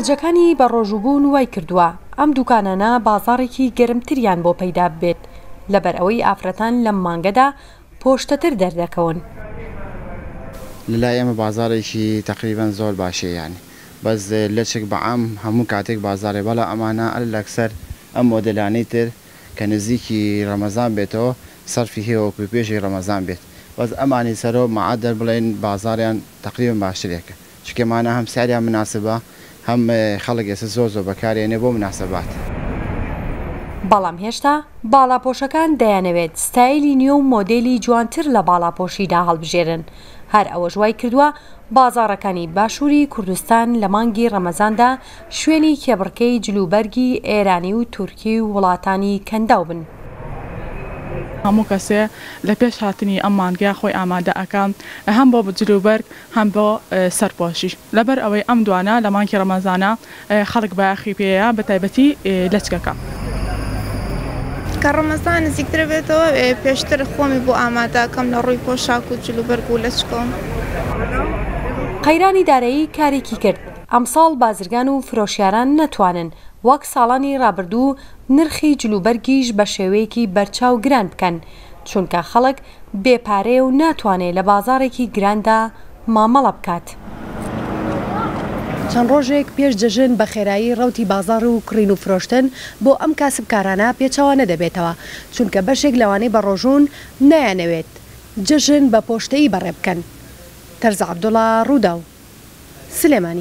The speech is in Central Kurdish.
خەرجەکانی بەڕۆژووبوون وای کردووە ئەم دووکانانە بازاڕێکی گەرمتریان بۆ پەیدا ببێت، لەبەر ئەوەی ئافرەتان لەم مانگەدا پۆشتەتر دەردەکەون. لە لای ئێمە بازاڕێکی تەقریبەن زۆر باشە یانی بەس لەچک بە عام هەموو کاتێک بازاڕێ بەڵام ئەمانە ئەلەکسەر ئەم مۆدێلانەی تر کە نزیکی ڕەمەزان بێتەوە سەرفی هەیە وەکوو پێشی ڕەمەزان بێت بەس ئەمانی سەرەوە مەعەدەل بڵێن بازاڕیان تەقریبەن باشترێکە چونکە مانا هەم ساریان مناسبە هەم خەڵک ئێستا زۆر زۆر بەکاری ئەنێ بۆ مناسەبات. بەڵام هێشتا باڵاپۆشەکان دەیانەوێت ستایلی نوێ و مۆدێلی جوانتر لە باڵاپۆشیدا هەڵبژێرن، هەر ئەوەش وای کردووە بازاڕەکانی باشووری کوردستان لە مانگی ڕەمەزاندا شوێنی کێبڕکێی جلوبەرگی ئێرانی و تورکی و وڵاتانی کەنداو بن. هەموو کەسێ لە پێش هاتنی ئەم مانگە خۆی ئامادە ئەکا هەم بۆ جلوبەرگ هەم بۆ سەرپۆشیش لەبەر ئەوەی ئەم دوانە لە مانگی ڕەمەزانە خەڵک بایەخی پێیە بە تایبەتی لەچکەکە. کە ڕەمەزان نزیکتر ئەبێتەوە پێشتر خۆمی بۆ ئامادە ئەکەم لە ڕووی پۆشاک و جلوبەرگ و لەچکەوە. قەیرانی دارایی کارێکی کرد ئەمساڵ بازرگان و فرۆشیاران نەتوانن وەک ساڵانی ڕابردوو نرخی جلوبەرگیش بە شێوەیەکی بەرچاو گران بکەن، چونکە خەڵک بێ پارەیە و ناتوانێ لە بازاڕێکی گراندا مامەڵە بکات. چەند ڕۆژێک پێش جەژن بە خێرایی ڕەوتی بازاڕ و کڕین و فرۆشتن بۆ ئەم کاسبکارانە پێچەوانە دەبێتەوە، چونکە بەشێک لەوانەی بەڕۆژوون نایانەوێت جەژن بە پۆشتەیی بەڕێ بکەن. تەرزە عەبدوڵا، ڕووداو، سلێمانی.